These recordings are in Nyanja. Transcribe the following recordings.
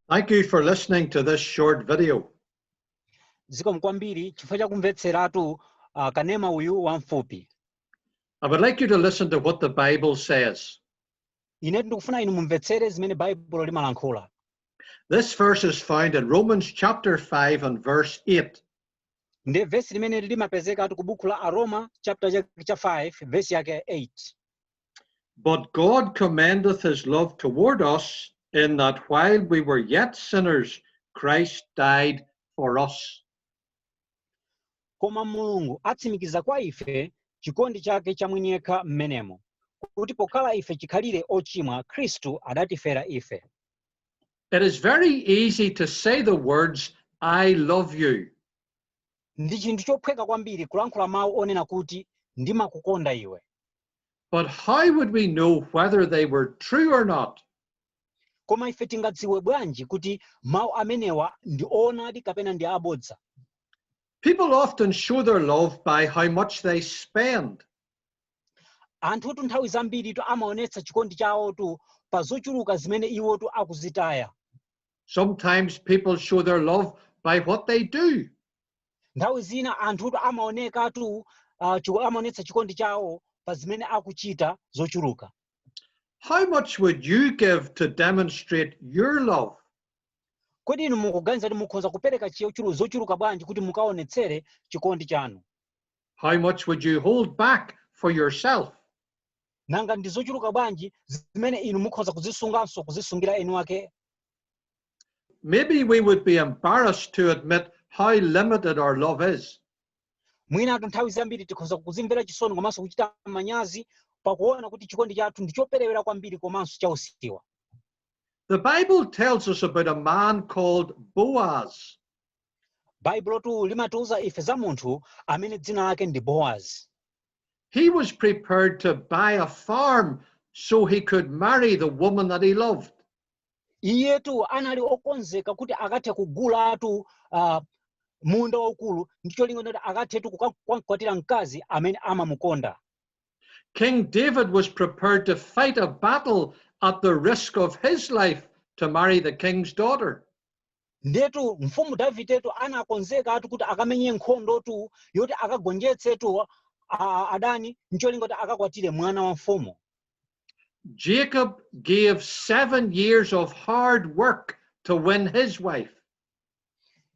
Thank you for listening to this short video. zikomo kwambiri chifukwa cha kumvetseratu uh, kanema uyu wamfupi I would like you to listen to what the Bible says. ine ndikufuna inu mumvetsere zimene baibulo limalankhula This verse is found in Romans chapter 5 and verse 8. nde vesi limene limapezekatu ku buku la aroma chapter cha, cha 5 vesi yake 8 But God commendeth his love toward us, in that while we were yet sinners, Christ died for us. koma mulungu atsimikiza kwa ife chikondi chake cha mwini yekha mmenemo kuti pokhala ife chikhalire ochimwa khristu adatifera ife It is very easy to say the words, I love you, ndi chinthu chophweka kwambiri kulankhula mawu onena kuti ndimakukonda iwe But how would we know whether they were true or not? koma ife tingadziwe bwanji kuti mawu amenewa ndi oonadi kapena ndi abodza People often show their love by how much they spend. anthutu nthawi zambiritu amaonetsa chikondi chawotu pa zochuluka zimene iwotu akuzitaya Sometimes people show their love by what they do. Nthawi zina anthutu amaonekatu ah, chiku- amaonetsa chikondi chawo pa zimene akuchita zochuluka How much would you give to demonstrate your love? kodi inu mukuganiza kuti mukhoza kupereka chichulu- zochuluka bwanji kuti mukaonetsere chikondi chanu How much would you hold back for yourself? nanga ndi zochuluka bwanji zimene inu mukhoza kuzisunganso kuzisungira enu wake Maybe we would be embarrassed to admit how limited our love is. mwinatu nthawi zambiri tikhoza kuzimvera chisoni komanso kuchita manyazi pakuona kuti chikondi chathu ndi choperewera kwambiri komanso chausiwa The Bible tells us about a man called Boaz. baibulotu limatiuza ife za munthu amene dzina lake ndi boaz He was prepared to buy a farm so he could marry the woman that he loved. iyetu anali okonzeka kuti akathe kugulatu uh, munda waukulu ndi cholinga kuti akathetu kukakwatira mkazi amene amamukonda King David was prepared to fight a battle at the risk of his life to marry the king's daughter. ndetu mfumu davidetu anakonzekatu kuti akamenye nkhondotu yoti akagonjetsetu adani ncholinga kuti akakwatire mwana wa mfumu Jacob gave seven years of hard work to win his wife.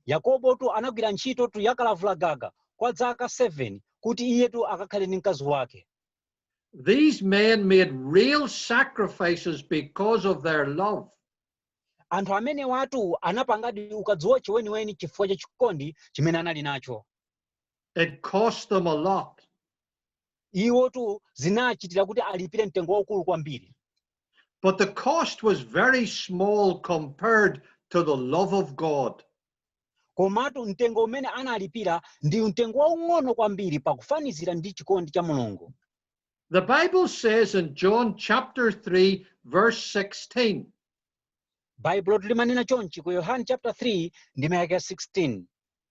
yakobotu anagwira ntchitotu yakalavula gaga kwa dzaka 7 kuti iyetu akakhale ndi mkazi wake These men made real sacrifices because of their love. anthu amenewatu anapangadi ukadziwotche weniweni chifukwa cha chikondi chimene anali nacho It cost them a lot. iwotu zinachitira kuti alipire mtengo waukulu kwambiri But the cost was very small compared to the love of God. komatu mtengo umene analipira ndi mtengo waung'ono kwambiri pakufanizira ndi chikondi cha mulungu The Bible says in John chapter 3, verse 16, baibulotu limanena chonchi ku yohane chapter 3 ndime yake ya 16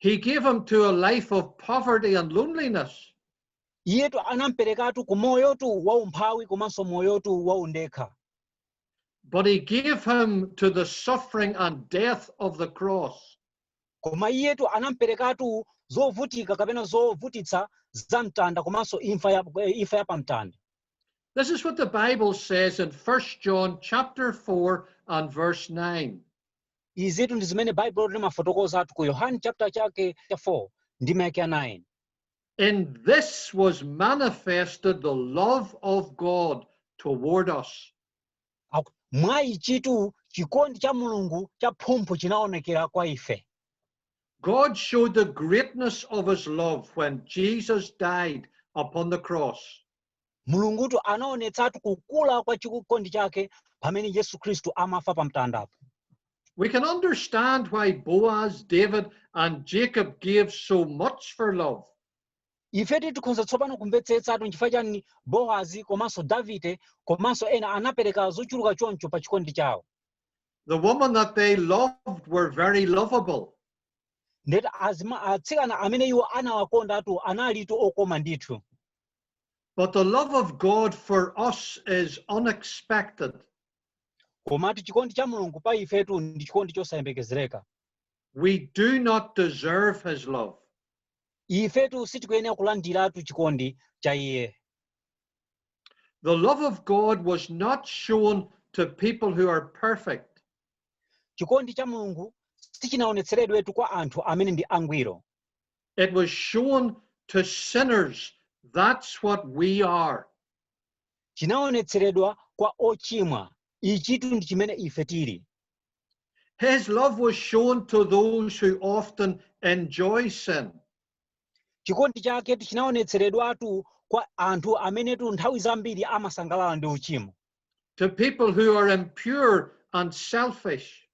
He gave him to a life of poverty and loneliness. iyetu anamperekatu ku moyotu wa umphawi komanso moyotu wa undekha But he gave him to the suffering and death of the cross. koma iyetu anamperekatu zovutika kapena zovutitsa za mtanda komanso imfa ya, eh, imfa ya pamtanda This is what the Bible says in 1 John chapter 4 and verse 9. izitu ndi zimene baibulo limafotokozatu ku yohane chapter chake cha 4 ndime yake ya 9 In this was manifested the love of God toward us. Aku- mwa ichitu chikondi cha mulungu cha phumphu chinaonekera kwa ife God showed the greatness of his love when Jesus died upon the cross. Mulungutu anaonetsatu kukula kwa chikondi chake pamene Yesu Kristu amafa pa mtandapo. We can understand why Boaz, David, and Jacob gave so much for love. ifetu tikhonza tsopano kumvetsetsatu nchifukwa chani boazi komanso davide komanso ena anapereka zochuluka choncho pa chikondi chawo The women that they loved were very lovable. ndeti azima- atsikana amene iwo anawakondatu analitu okoma ndithu But the love of God for us is unexpected. komatu chikondi cha mulungu pa ifetu ndi chikondi chosayembekezereka We do not deserve his love. ifetu sitikuyenera kulandiratu chikondi cha iye The love of God was not shown to people who are perfect. chikondi cha mulungu sichinaonetseredwetu kwa anthu amene ndi angwiro It was shown to sinners that's what we are. Chinaonetseredwa kwa ochimwa. Ichitu ndi chimene ife tili. His love was shown to those who often enjoy sin. Chikondi chake chinaonetseredwatu kwa anthu amenetu nthawi zambiri amasangalala ndi uchimo. To people who are impure and selfish.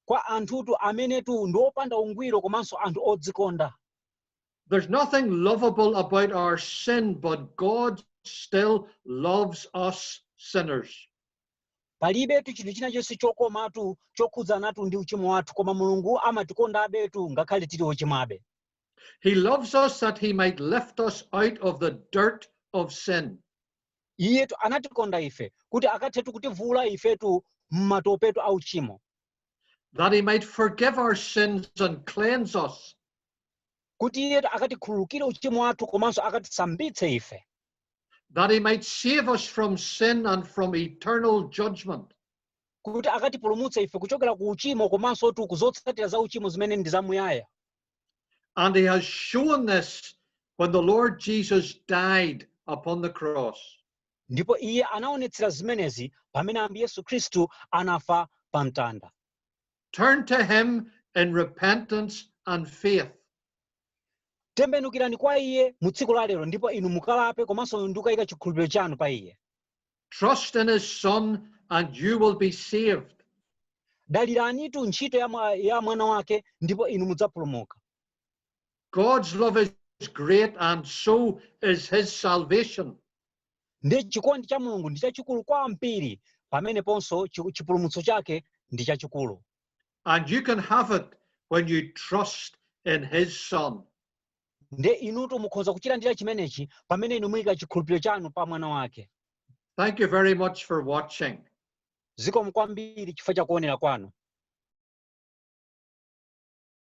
kwa anthutu amenetu ndi opanda ungwiro komanso anthu odzikonda. There's nothing lovable about our sin, but God still loves us sinners. Palibetu chinthu china chonse chokomatu chokhudzanatu ndi uchimo wathu, koma Mulungu amatikondabetu ngakhale tili ochimwabe. He loves us that he might lift us out of the dirt of sin. iyetu anatikonda ife kuti akathetu kutivuula ifetu m'matopetu a uchimo that he might forgive our sins and cleanse us kuti iyetu akatikhululukire uchimo wathu komanso akatisambitse ife that he might save us from sin and from eternal judgment kuti akatipulumutse ife kuchokera ku uchimo komansotu ku zotsatira za uchimo zimene ndi zamuyaya And he has shown this when the Lord Jesus died upon the cross. ndipo iye anaonetsera zimenezi pamene ambuye yesu khristu anafa pa mtanda Turn to him in repentance and faith. tembenukirani kwa iye mu tsiku la lero ndipo inu mukalape komanso ndikukayika chikhulupiriro chanu pa iye Trust in his son and you will be saved. daliranitu ntchito ya mwana wake ndipo inu mudzapulumuka God's love is great and so is his salvation. ndi chikondi cha mulungu ndi chachikulu kwambiri pameneponso chipulumutso chake ndi chachikulu And you can have it when you trust in his son. nde inutu mukhoza kuchilandira chimenechi pamene inu muyika chikhulupiriro chanu pa mwana wake thank you very much for watching zikomo kwambiri chifukwa cha kuonera kwanu